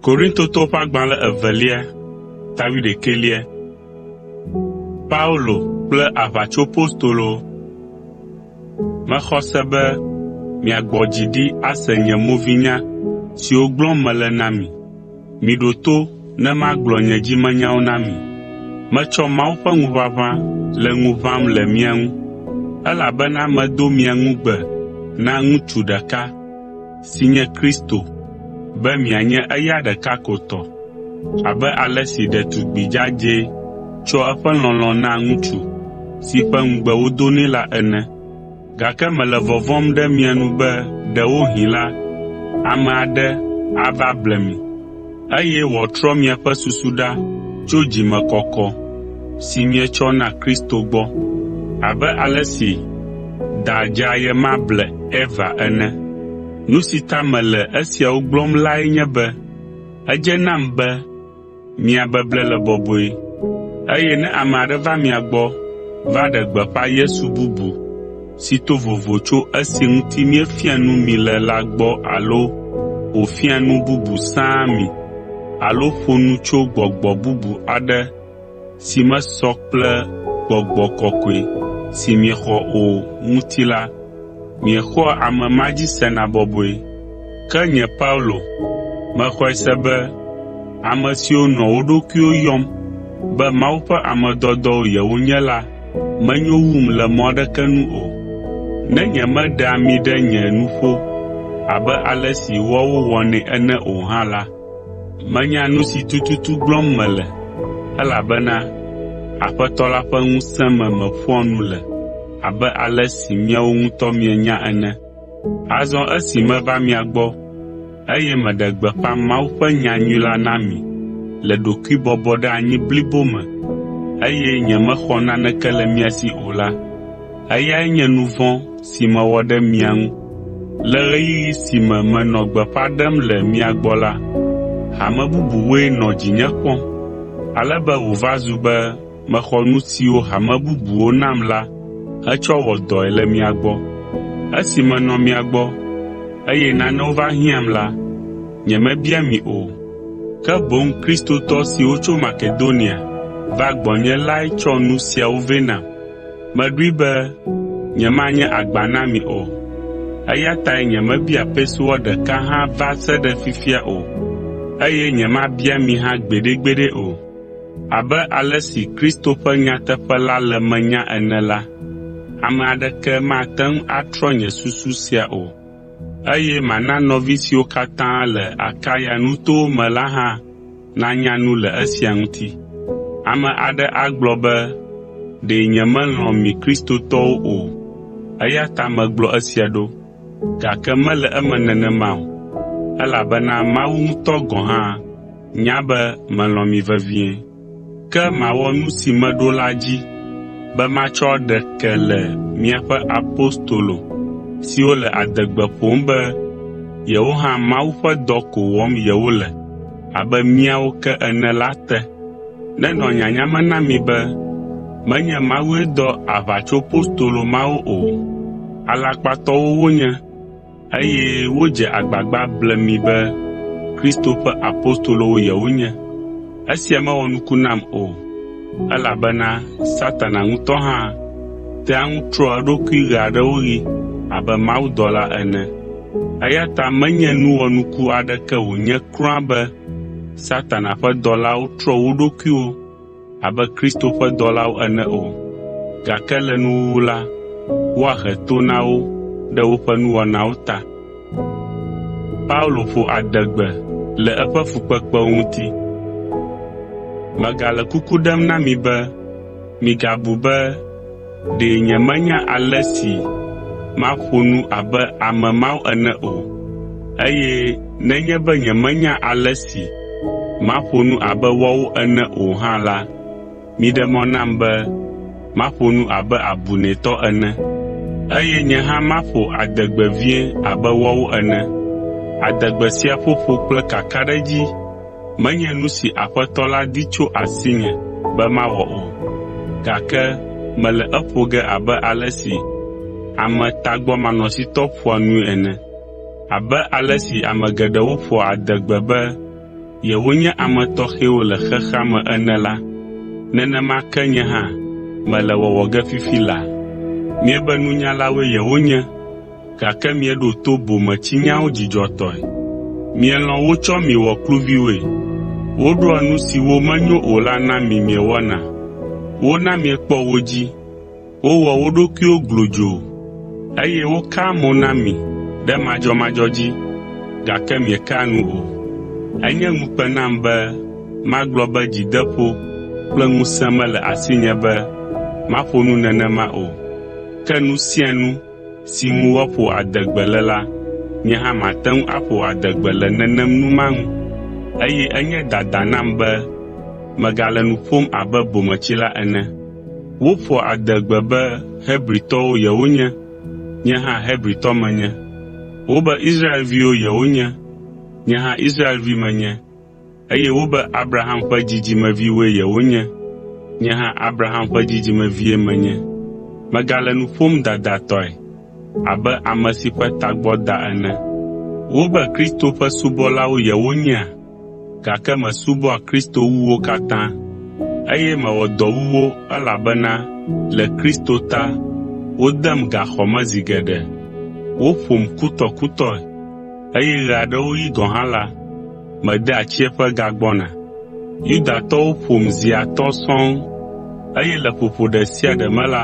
Korintotɔwo ƒe agbalẽ evelia Paulo kple aʋatsopostolo, Mexɔ se be miagbɔ dzi ɖi ase nye movinya siwo gblɔm mele na mi. Miɖo to ne magblɔ nye dzimenyawo na mi. Metsɔ Mawu ƒe ŋuʋaʋã le ŋu ʋãm le mia ŋu, elabena medo mia ŋugbe na ŋutsu ɖeka, si nye Kristo, be mianye eya ɖeka ko tɔ. Abe ale si ɖetugbi dzadzɛ tsɔa eƒe lɔlɔ̃ naa ŋutsu si ƒe ŋugbe wodo nɛ la ene. Gake mele vɔvɔ̃m ɖe mia nu be ɖewohĩ la, ame aɖe ava ble mi, eye wòatrɔ miaƒe susu ɖa tso dzimekɔkɔ si mietsɔ na Kristo gbɔ, abe ale si da dzea ye ma ble Eva ene. Nu si ta mele esiawo gblɔm lae nye be edze nam be Mia beble le bɔbɔe, eye ne ame aɖe va mia gbɔ va ɖe gbeƒã Yesu bubu si to vovo tso esi ŋuti míefia nu mi le la gbɔ alo wòfia nu bubu sãa mi alo ƒo nu tso gbɔgbɔ bubu aɖe si mesɔ kple gbɔgbɔ kɔkɔe si miexɔ o ŋuti la, Miexɔa ame ma dzi sena bɔbɔe. Ke nye Paulo, mexɔe se be ame siwo nɔ wo ɖokuiwo yɔm be Mawu ƒe ame dɔdɔwo yewonye la menyo wum le mɔ aɖeke nu o. Ne nyemeɖea ami ɖe nye nuƒo abe ale si woawo wɔnɛ ene o hã la, menya nu si tututu gblɔm mele, elabena Aƒetɔ la ƒe ŋusẽ me meƒoa nu le. abe ale si miawo ŋutɔ mienya ene. Azɔ esi meva mia gbɔ, eye meɖe gbeƒã Mawu ƒe nyanyui la na mi le ɖokuibɔbɔɖeanyi blibo me, eye nyemexɔ naneke le mia si o la, eyae nye nu vɔ̃ si mewɔ ɖe mia ŋu. Le ɣeyiɣi si me menɔ gbeƒã ɖem le mia gbɔ la, hame bubuwoe nɔ dzinye kpɔm, ale be wòva zu be mexɔ nu siwo hame bubuwo nam la hetsɔ wɔ dɔe le mia gbɔ. Esi menɔ mia gbɔ, eye nanewo va hiãm la, nyemebia mi o, ke boŋ Kristotɔ siwo tso Makedonia va gbɔnye lae tsɔ nu siawo vɛ nam. Meɖoe be nyemanye agba na mi o, eya tae nyemebia pesewa ɖeka hã va se ɖe fifia o, eye nyemabia mi hã gbeɖegbeɖe o. Abe ale si Kristo ƒe nyateƒe la le menye ene la, ame aɖeke mate ŋu atrɔ nye susu sia o, eye mana nɔvi siwo katã le Akaya nutowo me la hã nanya nu le esia ŋuti. Ame aɖe agblɔ be, “Ɖe nyemelɔ̃ mi Kristotɔwo o, eya ta megblɔ esia ɖo.” Gake mele eme nenema o, elabena Mawu ŋutɔ gɔ̃ hã, Nya be melɔ̃ mi vevie. Ke mawɔ nu si meɖo la dzi be matsɔ ɖe ke le miaƒe apostolo siwo le adegbe ƒom be yewo hã Mawu ƒe dɔ ko wɔm yewole abe míawo ke ene la te. Nenɔ nyanya me na mi be menye Mawue dɔ aʋatsopostolo mawo o, alakpatɔwo wonye. Eye wodze agbagba ble mi be Kristo ƒe apostolowo yewonye. Esia mewɔ nuku nam o, elabena Satana ŋutɔ hã tea ŋu trɔa eɖokui ɣeaɖewoɣi abe mawudɔla ene. Eya ta menye nu wɔnuku aɖeke wònye kura be Satana ƒe dɔlawo trɔ wo ɖokuiwo. abe Kristo ƒe dɔlawo ene o, gake le nuwuwu la, woahe to na wo ɖe woƒe nuwɔnawo ta. Paulo ƒo adegbe le eƒe fukpekpewo ŋuti: “Megale kuku ɖem na mi be migabu be Ɖe nyemenya ale si maƒo nu abe ame mawo ene o, eye nenye be nyemenya ale si maƒo nu abe woawo ene o hã la, miɖe mɔ nam be maƒo nu abe abunɛtɔ ene, eye nye hã maƒo adegbe vie abe woawo ene. Adegbe sia ƒoƒo kple kakaɖedzi Menye nu si Aƒetɔ la di tso asinye be mawɔ o, gake mele eƒo ge abe ale si ame tagbɔmanɔsitɔ ƒoa nui ene. Abe ale si ame geɖewo ƒoa adegbe be yewonye ame tɔxɛwo le xexea me ene la, nenema ke nye hã mele wɔwɔ ge fifi laa. Miebe nunyalawoe yewonye. gake mieɖo to bometsinyawo dzidzɔtɔe. Mielɔ̃ wotsɔ mi wɔ kluviwoe. Woɖoa nu siwo menyo o la na mi miewɔna. Wona miekpɔ wo dzi. Wowɔ wo ɖokuiwo glodzoo, eye wokaa mo na mi ɖe madzɔmadzɔ dzi, gake miekea nu o. Enye ŋukpe nam be magblɔ be dzideƒo kple ŋusẽ mele asinye be maƒo nu nenema o. Ke nu sia nu si ŋu woaƒo adegbe le la, nye hã mate ŋu aƒo adegbe le nenem nu ma ŋu. Eye enye dada nam be megale nu ƒom abe bometsila ene. Woƒoa adegbe be Hebritɔwo yewonye, nye hã Hebritɔ menye. Wobe Israelviwo yewonye, nye hã Israelvi menye. eye wobe Abraham ƒe dzidzimeviwoe yewonye. Nye hã Abraham ƒe dzidzimevie menye. Megale nu ƒom dadatɔe abe ame si ƒe tagbɔ da ene. Wobe Kristo ƒe subɔlawo yewonyea? Gake mesubɔa Kristo wu wo katã, eye mewɔ dɔ wu wo elabena le Kristo ta wodem gaxɔ me zi geɖe. Woƒom kutɔkutɔe, eye ɣeaɖewoɣi gɔ̃ hã la, mede tsiẽƒe gagbɔna. Yudatɔwo ƒom zi atɔ̃ sɔŋ, eye le ƒoƒo ɖe sia ɖe me la,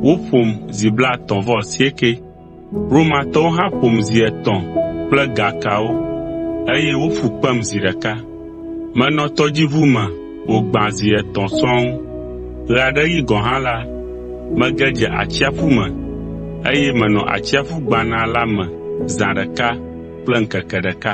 woƒom zi blaetɔ̃ vɔ asiekɛ. Romatɔwo hã ƒom zi etɔ̃ kple ga kawo, eye woƒu kpem zi ɖeka. Menɔ tɔdziʋu me wògbã zi etɔ̃ sɔŋ. Ɣeaɖeɣi gɔ̃ hã la, mege dze atsiaƒu me, eye menɔ atsiaƒu gbana la me zã ɖeka kple ŋkeke ɖeka.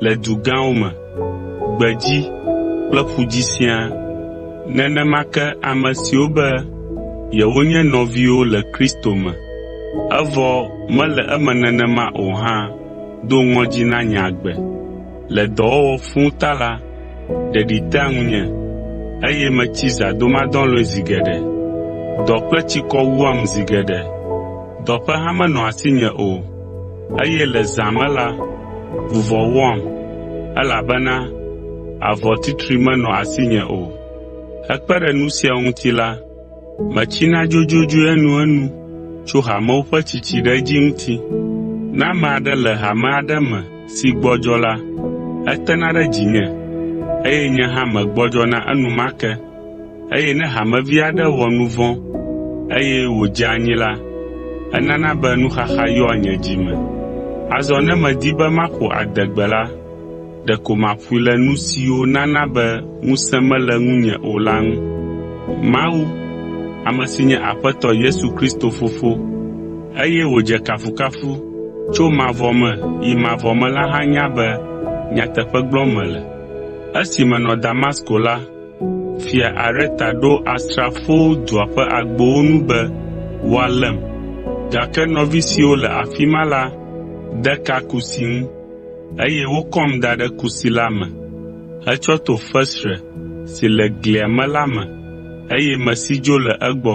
le du gãwo me, gbedzi kple ƒu dzi siaa. Nenema ke ame siwo be yewonye nɔviwo le Kristo me, evɔ mele eme nenema o hã do ŋɔdzi na nye agbe. Le dɔwɔwɔ fũ ta la, ɖeɖi tea ŋunye, eye metsi zãdomadɔlɔ̃e zi geɖe. Dɔ kple tsikɔ wuam zi geɖe. Dɔ ƒe hã menɔa asinye o. Eye le zã me la, vuvɔ wɔam, elabena avɔtitri menɔ asinye o. Hekpe ɖe nu sia ŋuti la, metsina dzodzodzoe enuenu tso hamewo ƒe tsitsi ɖe edzi ŋuti. Ne ame aɖe le hame aɖe me si gbɔdzɔ la, etena ɖe dzinye, eye nye hã megbɔdzɔna enumake. Eye ne hamevi aɖe wɔ nu vɔ̃ eye wòdze anyi la, enana be nuxaxa yɔa nye dzi me. Azɔ ne medi be maƒo adegbe la, ɖeko maƒoe le nu siwo nana be ŋusẽ mele ŋunye o la ŋu. Mawu, ame si nye Aƒetɔ Yesu Kristo Fofo, eye wòdze kafukafu tso mavɔ me yi mavɔ me la hã nya be nyateƒe gblɔm mele. Fia Areta ɖo asrafowo dua ƒe agbowo nu be woalém, gake nɔvi siwo le afi ma la de ka kusi ŋu, eye wokɔm da ɖe kusi la me hetsɔ to fesre si le glia me la me, eye mesi dzo le egbɔ.